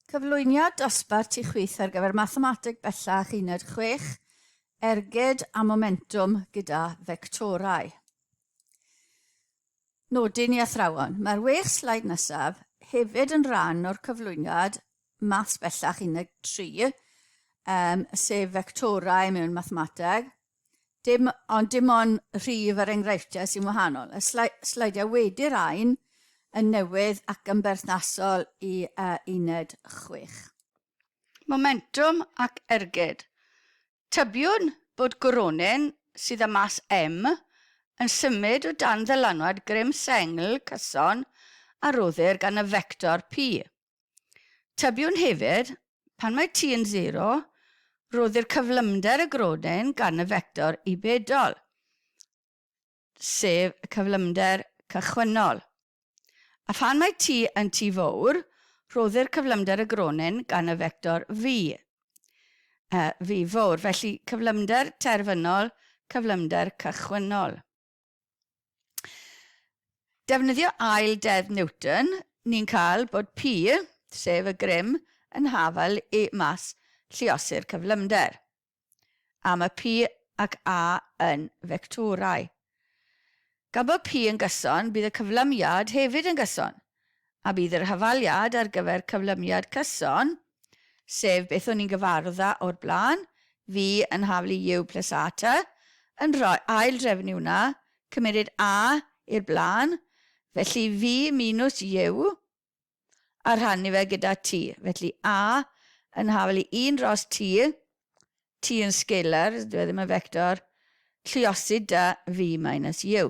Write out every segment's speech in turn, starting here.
Cyflwyniad dosbarth ti chwith ar gyfer Mathemateg Bellach Uned 6, Ergyd a Momentwm gyda Fectorau. Nodyn i athrawon. Mae'r wech slaid nesaf hefyd yn rhan o'r cyflwyniad Maths Bellach Uned 3, um, sef fectorau mewn mathemateg, Dim, ond dim ond rhif yr enghreifftiau sy'n wahanol. Y sleidiau wedi rhain yn newydd ac yn berthnasol i uh, uned 6. Momentum ac ergyd. Tybiwn bod Gronin, sydd â mas M, yn symud o dan ddylanwad grym sengl cyson a roddir gan y fector P. Tybiwn hefyd, pan mae t yn sero, rhoddir cyflymder y grodyn gan y fector i bedol, sef y cyflymder cychwynnol. A phan mae t yn t fowr, rhoddir cyflymder y gronyn gan y fector v, uh, v fowr, felly cyflymder terfynol, cyflymder cychwynnol. Defnyddio ail deddf Newton, ni'n cael bod P, sef y grym, yn hafal i mas lluosur cyflymder. A mae P ac A yn fectorau. Gan bod P yn gyson, bydd y cyflymiad hefyd yn gyson, A bydd yr hafaliad ar gyfer cyflymiad cyson, sef beth o'n i'n gyfarwdda o'r blaen, fi yn haflu U plus A ta, yn rhoi ail drefnu hwnna, cymeryd A i'r blaen, felly fi minws U, a rhannu fe gyda T. Felly A yn haflu un dros T, T yn scalar, dyw e ddim yn fector, lluosydd 'da fi minus U.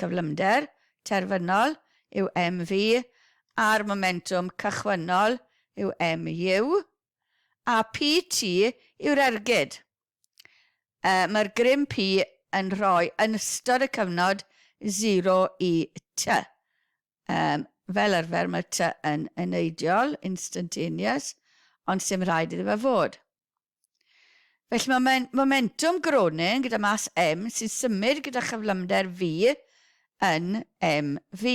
Cyflymder terfynol yw MV a'r momentwm cychwynnol yw MU, a PT yw'r ergyd y mae'r grym P yn rhoi yn ystod y cyfnod 0 i T. Yym, fel arfer mae T yn yn eidial, instantaneous, ond 'sdim rhaid iddo fe fod. Felly mae momen momentwm Groningen gyda mas M sy'n symud gyda chyflymder V yn MV.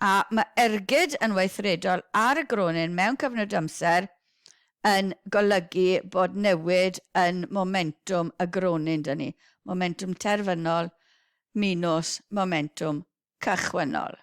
A mae ergyd yn weithredol ar y Groningen mewn cyfnod amser yn golygu bod newid yn momentwm y Groningen 'da ni, momentwm terfynol minws momentwm cychwynnol.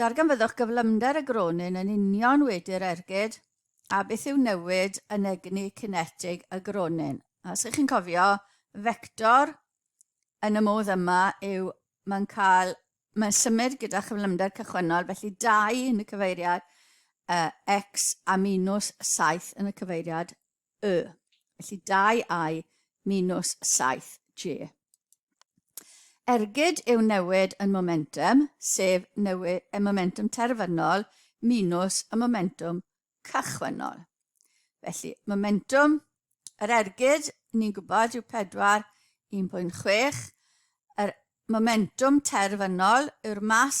Darganfyddwch gyflymder y gronyn yn union wedi'r ergyd a beth yw newid yn egni cinetig y gronyn. Os ych chi'n cofio, fector yn y modd yma yw mae'n cael, mae'n symud gyda chyflymder cychwynnol, felly 2 yn y cyfeiriad uh, x a minus 7 yn y cyfeiriad y. Felly 2i minus 7j. Ergyd yw newid yn momentum, sef newid y momentum terfynol minus y momentum cychwynnol. Felly, momentum yr ergyd, ni'n gwybod, yw 4, 1.6. Yr momentum terfynol yw'r mas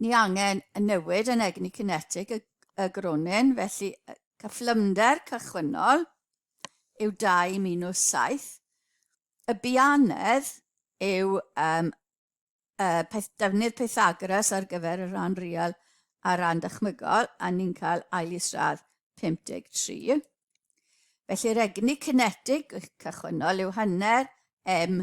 Ni angen y newid yn egni cinetig y, y gronyn, felly cyflymder cychwynnol yw 2 minus 7. Y bianedd yw um, uh, peth, defnydd Pythagoras ar gyfer y rhan real a rhan dychmygol, a ni'n cael ail isradd 53. Felly'r egni cinetig cychwynnol yw hanner m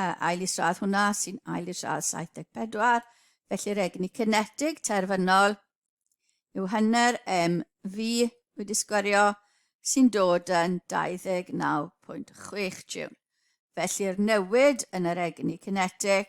uh, ail isradd hwnna sy'n ail isradd 74, felly'r egni cynetig terfynol yw hynny'r MV wedi sgwario sy'n dod yn 29.6 jiwn. Felly'r newid yn yr egni cynetig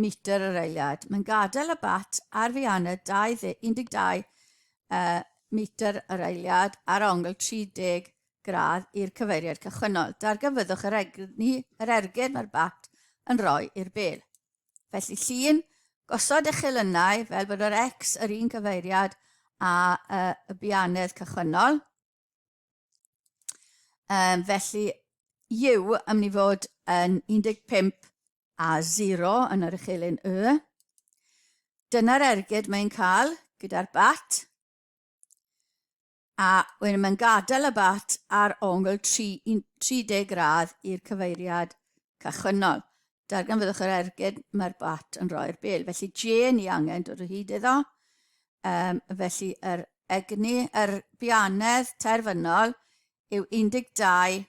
metr yr eiliad. Mae'n gadael y bat ar Fianna 12 uh, metr yr eiliad ar ongl 30 gradd i'r cyfeiriad cychwynnol. Dargyfyddwch yr, egni, yr ergyd mae'r bat yn rhoi i'r bel. Felly llun, gosod eich elynau fel bod yr X yr un cyfeiriad a uh, y bianedd cychwynnol. Um, felly, yw yn mynd i fod yn 15 A zero yn yr uchelyn Y. Dyna'r ergyd mae'n cael gyda'r bat. A wedyn mae'n gadael y bat ar ongl 30 gradd i'r cyfeiriad cychwynnol. Darganfyddwch yr ergyd, mae'r bat yn rhoi'r bel. Felly J ni angen dod o hyd iddo. Um, felly yr egni, yr bianedd terfynol yw 12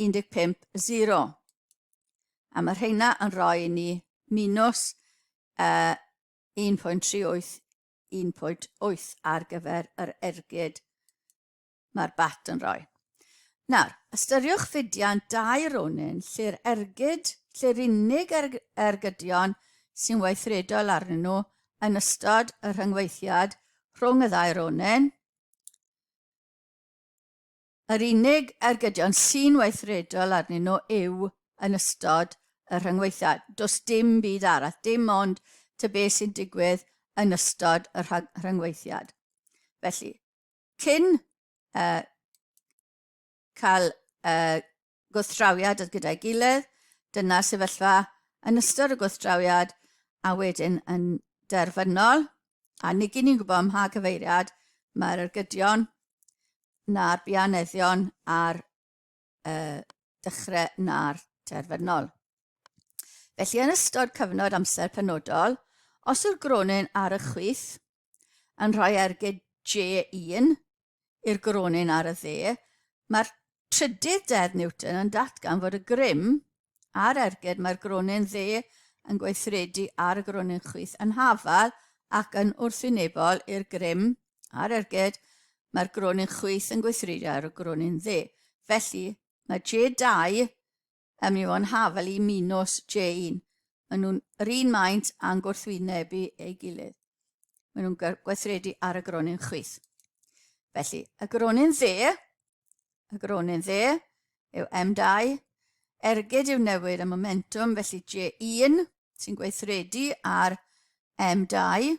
15, 0. A mae rheina yn rhoi ni minus uh, 1.38, 1.8 ar gyfer yr ergyd mae'r bat yn rhoi. Nawr, ystyriwch fudiant dau ronin lle'r ergyd, lle'r unig er, ergydion sy'n weithredol arnyn nhw yn ystod y rhyngweithiad rhwng y ddau ronin, Yr unig ergydion sy'n weithredol arnyn nhw yw yn ystod y rhyngweithiau. Does dim byd arall, dim ond tŷ beth sy'n digwydd yn ystod y rhyngweithiad. Felly, cyn uh, cael uh, gwrthdrawiad gyda'i gilydd, dyna'r sefyllfa yn ystod y gwrthdrawiad a wedyn yn derfynol, a nid ni'n gwybod ym mha gyfeiriad mae'r ergydion na'r bianeddion a'r uh, dechrau na'r terfynol. Felly yn ystod cyfnod amser penodol, os yw'r gronyn ar y chwith, yn rhoi ergyd J1 i'r gronyn ar y dde, mae'r trydydd deddf Newton yn datgan fod y grym a'r ergyd mae'r gronyn dde yn gweithredu ar y gronyn chwith yn hafal ac yn wrthwynebol i'r grym a'r ergyd mae'r gronyn chwith yn gweithredu ar y gronyn dde. Felly, mae J2 Ym mi o'n hafel i Minos, Jane. Maen nhw'n yr un maint a'n gwrthwynebu ei gilydd. Maen nhw'n gweithredu ar y gronyn chwith. Felly, y gronyn dde, y gronyn dde yw M2, ergyd yw newid y momentum, felly J1 sy'n gweithredu ar M2.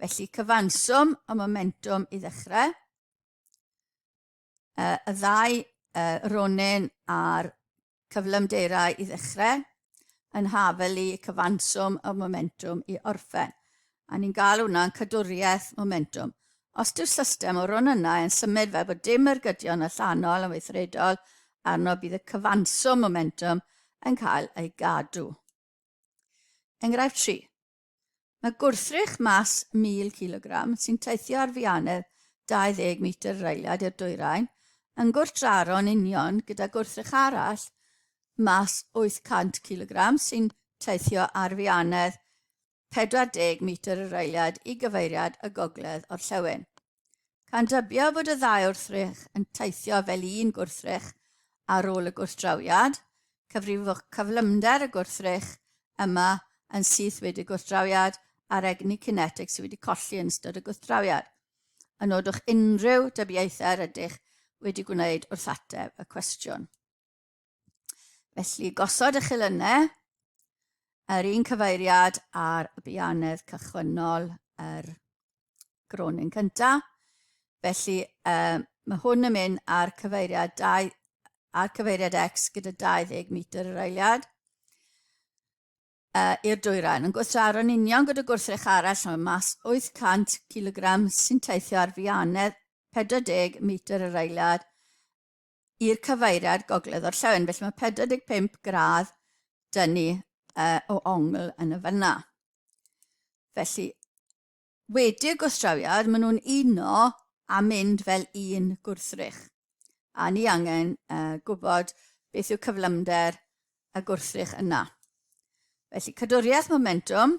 Felly cyfanswm y momentum i ddechrau. Uh, y ddau uh, ronin a'r cyflymdeirau i ddechrau yn hafelu cyfanswm y momentum i orffen. A ni'n gael hwnna'n cadwriaeth momentum. Os yw'r system o ronynnau yn symud fel bod dim ergydion allanol yn weithredol arno bydd y cyfanswm momentum yn cael ei gadw. Enghraifft 3. Mae gwrthrych mas 1,000 cilogram, sy'n teithio ar fianedd 20 metr reiliad i'r dwyrain, yn gwrthdraro'n union gyda gwrthrych arall mas 800 cilogram sy'n teithio ar fianedd 40 metr y reiliad i gyfeiriad y gogledd orllewin. Cawn dybio fod y ddau wrthrych yn teithio fel un gwrthrych ar ôl y gwrthdrawiad, cyfrifwch cyflymder y gwrthrych yma yn syth wedi y gwrthdrawiad a'r egni cinetig sydd wedi colli yn ystod y gwrthdrawiad. Yn nodwch unrhyw dybiaethau yr ydych wedi gwneud wrth ateb y cwestiwn. Felly, gosod eich elynau, yr un cyfeiriad ar y bianedd cychwynnol yr gronin cyntaf. Felly, um, mae hwn yn mynd ar cyfeiriad, dau, ar cyfeiriad X gyda 20 metr yr eiliad uh, i'r dwyrain. Yn gwrthdraro'n union gyda gwrthrych arall mae mas 800 kg sy'n teithio ar fianedd 40 metr yr eiliad i'r cyfeiriad gogledd-orllewin, felly mae 45 gradd dyn ni uh, o ongl yn y fyna. Felly, wedi y gwstrawiad, maen nhw'n uno a mynd fel un gwrthrych. A ni angen uh, gwybod beth yw cyflymder y gwrthrych yna. Felly, cadwriaeth momentum,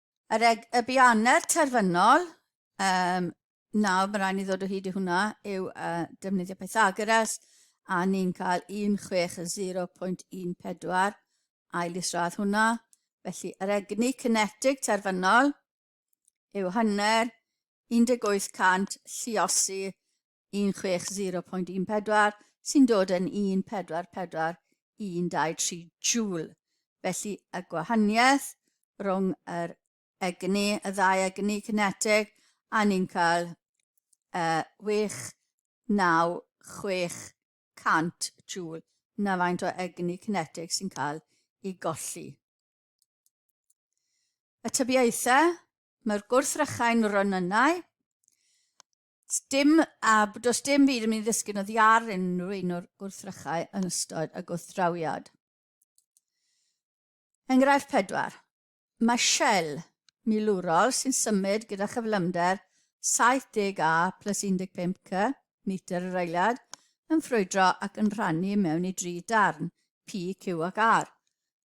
Yr eg, y bianer terfynol, um, nawr mae rhaid ni ddod o hyd i hwnna, yw uh, defnyddio Pythagoras, a ni'n cael 16.14 ail isradd hwnna. Felly, yr egni cinetig terfynol yw hanner 1800 lliosi 16.14 sy'n dod yn 1441223 joule. Felly y gwahaniaeth rhwng yr egni, y ddau egni cyneteg, a ni'n cael uh, 69600 joule na faint o egni cyneteg sy'n cael ei golli. Y tybiaethau, mae'r gwrthrychau'n ronynnau, Dim, a does dim byd yn mynd i ddysgu na ddiar unrhyw un o'r gwrthrychau yn ystod y gwrthdrawiad. Enghraifft pedwar. Mae Shell milwrol sy'n symud gyda chyflymder 70 A plus 15 C metr yr eiliad yn ffrwydro ac yn rhannu mewn i dri darn, P, Q ac R.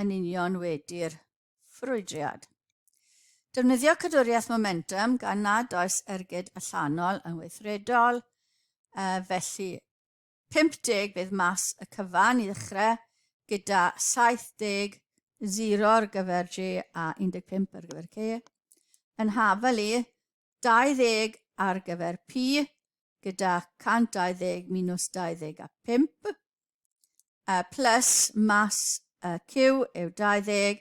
yn union wedi'r ffrwydriad. Defnyddio cadwriaeth momentum gan nad oes ergyd allanol yn weithredol, uh, felly 50 bydd mas y cyfan i ddechrau gyda 70 0 ar gyfer G a 15 ar gyfer C. Yn hafel i 20 ar gyfer P gyda 120 minus 25, uh, plus mas uh, Q yw 20,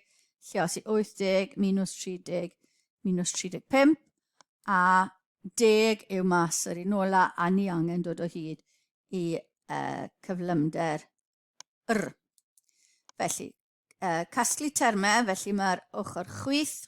lle os i 80 minus 30 minus 35, a deg yw mas yr un ola a ni angen dod o hyd i uh, cyflymder yr. Felly, uh, casglu termau, felly mae'r ochr chwith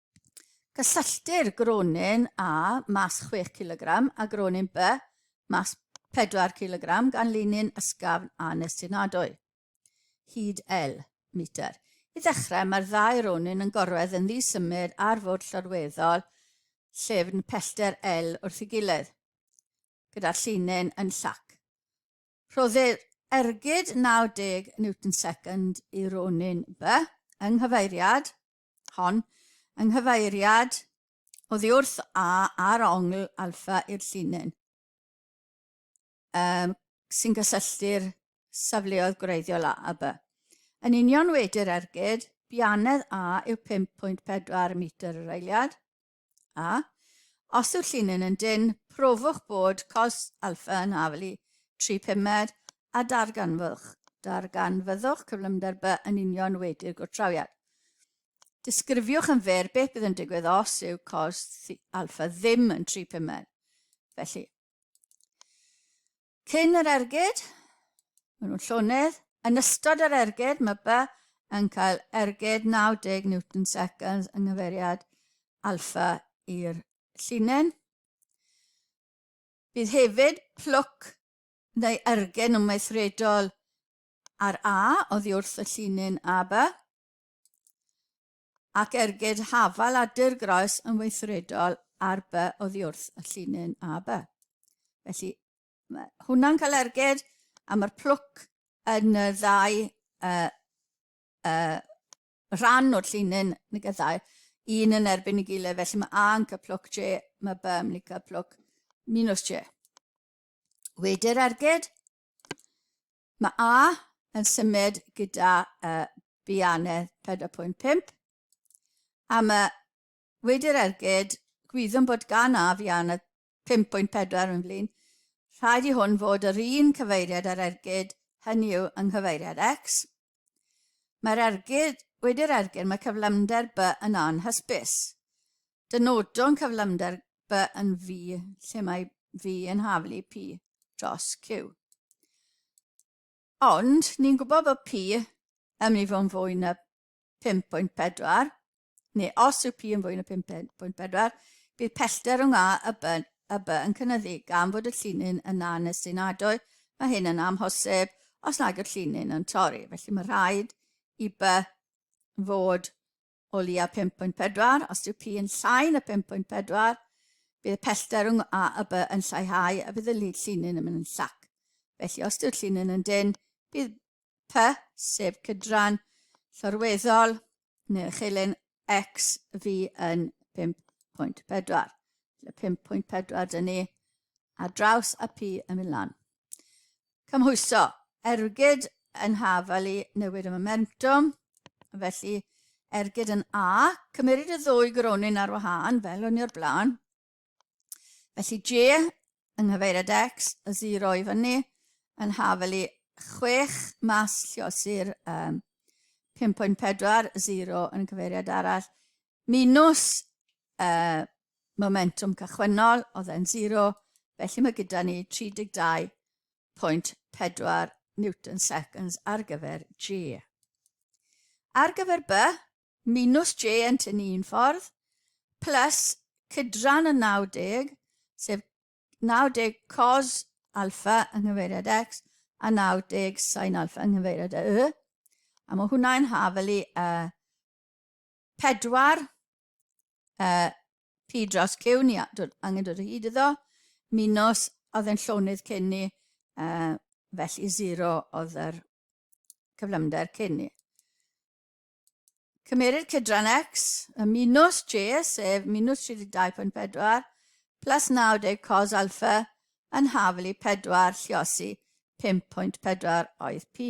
Cysylltir gronyn A mas 6 cilogram a gronyn B mas 4 cilogram gan linyn ysgafn a nestunadwy. Hyd L metr. I ddechrau, mae'r ddau ronyn yn gorwedd yn ddisymud ar fwrdd llorweddol llefn pellter L wrth ei gilydd, gyda'r llinyn yn llac. Rhoddir ergyd 90 newton second i ronyn B yng nghyfeiriad hon, yng nghyfeiriad oddi wrth A ar ongl alfa i'r llinyn um, sy'n gysylltu'r safleoedd gwreiddiol A a B. Yn union wedi'r ergyd, bianedd A yw 5.4 metr yr eiliad, A, os yw'r llinyn yn dynn, profwch bod cos alfa yn haflu tri pumed a darganfwch, darganfyddwch cyflymder by yn union wedi'r gwrthdrawiad. Disgrifiwch yn fer beth bydd yn digwydd os yw cos alfa ddim yn tri pumed. Felly, Cyn yr ergyd, maen nhw'n llonydd. Yn ystod yr ergyd, mae By yn cael ergyd 90 newton seconds yng nghyfeiriad alfa i'r llinyn. Bydd hefyd plwc neu ergyd yn weithredol ar A oddi wrth y llinyn AB. ac ergyd hafal a dirgroes yn weithredol ar by oddiwrth y llinyn a by. Felly, mae hwnna'n cael ergyd a mae'r plwc yn y ddau uh, uh, rhan o'r llinyn yn y gyddau, un yn erbyn y gilydd, felly mae A yn cael plwc J, mae B yn mynd i cael plwc minus J. Wedi'r ergyd, Mae A yn symud gyda y bianedd 4.5 a mae wedi'r ergyd, gwyddwn bod gan A fianedd 5.4 yn flin, rhaid i hwn fod yr un cyfeiriad â'r ergyd, hynny yw yng nghyfeiriad X. Mae'r ergyd, wedi'r ergyd mae cyflymder B yn anhysbys. Dynodwn cyflymder by yn V lle mae V yn haflu P dros Q. Ond ni'n gwybod bod P yn mynd i fod yn fwy na 5.4, neu os yw P yn fwy na 5.4, bydd pellter rhwng A a B, a B yn cynnyddu gan fod y llinyn yn na nes sy'n adoe, mae hyn yn amhosib os nad yw'r llinyn yn torri. Felly mae rhaid i B fod o leia 5.4, os yw P yn llai na 5.4, bydd y pellter rhwng A a B yn lleihau a bydd y llinyn yn mynd yn llac. Felly, os yw'r llinyn yn dyn, bydd P, sef cydran llorweddol neu'r uchelyn X fi yn 5.4. Felly 5.4 dyn ni a draws a P yn mynd lan. Cymhwyso, ergyd yn haf ali newid y momentum, felly ergyd yn A, cymeryd y ddwy gronyn ar wahân, fel o'n i o'r blaen. Felly J yng nghyfeiriad X, y 0 i fyny, yn haf ali 6 mas lliosi'r um, 5.40 yn cyfeiriad arall, Minus y momentwm cychwynnol, oedd e'n zero, felly mae gyda ni 32.4 newton seconds ar gyfer J. Ar gyfer B, minus J yn tynnu un ffordd, plus cydran y 90, sef 90 cos alfa yng nghyfeiriad x a 90 sin alfa yng nghyfeiriad y y. A mae hwnna'n hafelu y 4, y P dros Q, ni dod, angen dod o hyd iddo, minus, oedd yn llonydd cyn ni, uh, felly 0 oedd yr cyflymder cyn ni. Cymerir cydran x, y minus j, sef minus 32.4, plus 90 cos alfa, yn haflu 4 lliosi 5.4 oedd p.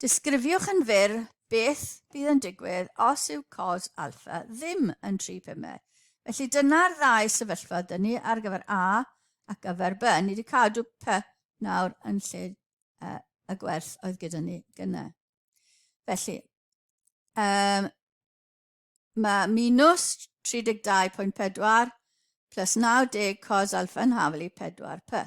Disgrifiwch yn fyr beth bydd yn digwydd os yw cos alfa ddim yn 3 pumau. Felly dyna'r ddau sefyllfa dyn ni ar gyfer A ac gyfer B. Ni wedi cadw P nawr yn lle uh, y gwerth oedd gyda ni gyna. Felly, um, mae minus 32.4 plus 90 cos alfa yn hafel i 4p.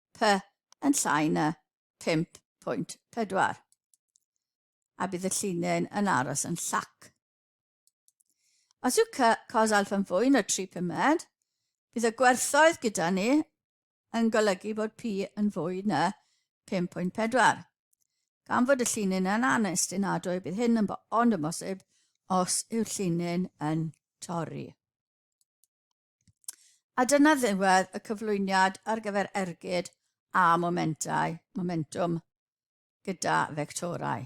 P yn llai na 5.4 a bydd y llinyn yn aros yn llac. Os yw C cos alfa yn fwy na 3 pumed, bydd y gwerthoedd gyda ni yn golygu bod P yn fwy na 5.4. Gan fod y llinyn yn anestinadwy, bydd hyn yn bo ond yn bosib os yw'r llinyn yn torri. A dyna ddiwedd y cyflwyniad ar gyfer ergyd a momentau, momentum gyda fectorau.